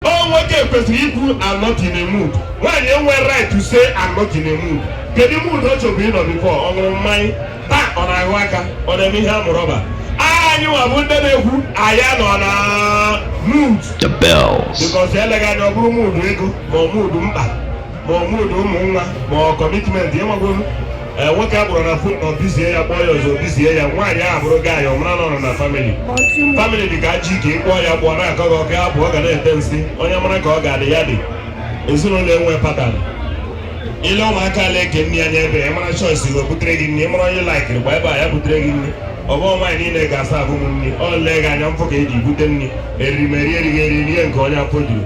ọ nwoke kwesịrị ikwu I'm not in a mood nwaanyị enwe right to say I'm not in a mood kedu mood ọ chọbu ịnọ before ọ ṅụrụ mmanya taa ọ na-ahụ aka ọ na-eme ihe amụrụ ọ bụ anyị nwa bụ ndị na-ekwu anyị anọ na mood the bells because eleghị anya ọ bụrụ mood ego ma ọ mood mkpa ma ọ mood ụmụ nwa ma ọ commitment ị magwolu eh, nwoke a kpọrọ na phone na ọ busy ya kpọọ ya ọzọ ọ busy ya nwaanyị ahụ bụrụ gị anyị ọmara nọrọ na family family dị ka ji ka ịkpọọ ya kpọọ na-akọ gị ọka abụ ọ ga na-ete nsị onye mara ka ọ ga-adị ya dị ezinụlọ enwe pattern ile ụmụaka ala eke nne ya nye ebe ya mara choice na o butere gị nne mara onye laikiri gba ebe a ya butere gị nne ọ bụ nwaanyị niile ga-asa abụ m nri ọ lee gị anya mfụ ka e ji bute nri erimeri erighị eri rie nke onye afọ juru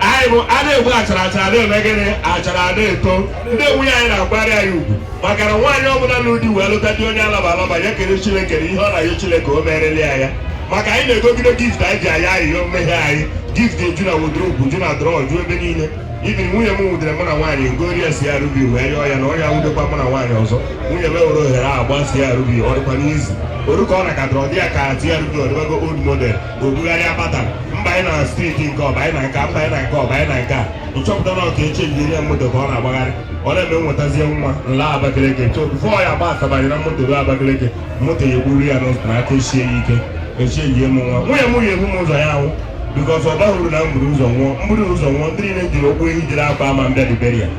anyị bụ a na-egbu achara achara na-eme gịnị achara na-eto ndị nwunye anyị na-akwari anyị ugwu maka na nwaanyị ọbụla na ụdị wee lụta di onye alaba alaba ya kele Chineke na ihe ọ na-ayọ Chineke o merela ya ya maka anyị na-egogide gift anyị ji ayọ ayịyọ mmehie anyị gift eju na wardrobe ju na drawer ju ebe niile ibiri nwunye m nwudere mụ na nwaanyị m gorie CRV wee rịọ ya na ọ ya nwudekwa mụ na nwaanyị ọzọ nwunye m were ohere a gba CRV ọ dịkwa n'izu oru ka ọ na ka drọ dị ya ka CRV ọ dịbago old model o bugharị akpata m banye na state nke ọ banye na nke m banye na nke ọ banye na nke a m chọpụta na ọ ka e chenjie ya moto ka ọ na-agbagharị ọ na-eme m wetazie nwa nla Abakaliki tụfọ ya agba ọsọ banye na moto ruo Abakaliki moto ya egburu ya n'ụzọ na aka ochie ya ike echie yie m nwa nwunye m ya ebu m ụzọ ya anwụ because ọ bụrụ na m buru ụzọ nwụọ m buru ụzọ nwụọ ndị niile jiri okwu ehi jiri akwa ama mbịa dibere ya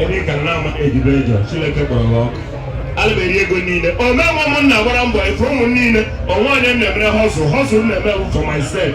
ebe ị ka na-ama ejibe ejọ Chineke kpọrọ gị ọkụ alụberi ego niile ọ m nwe ụmụnna gbara mbọ efe ụmụ niile o nwe onye m na-emere hustle hustle m na-eme for myself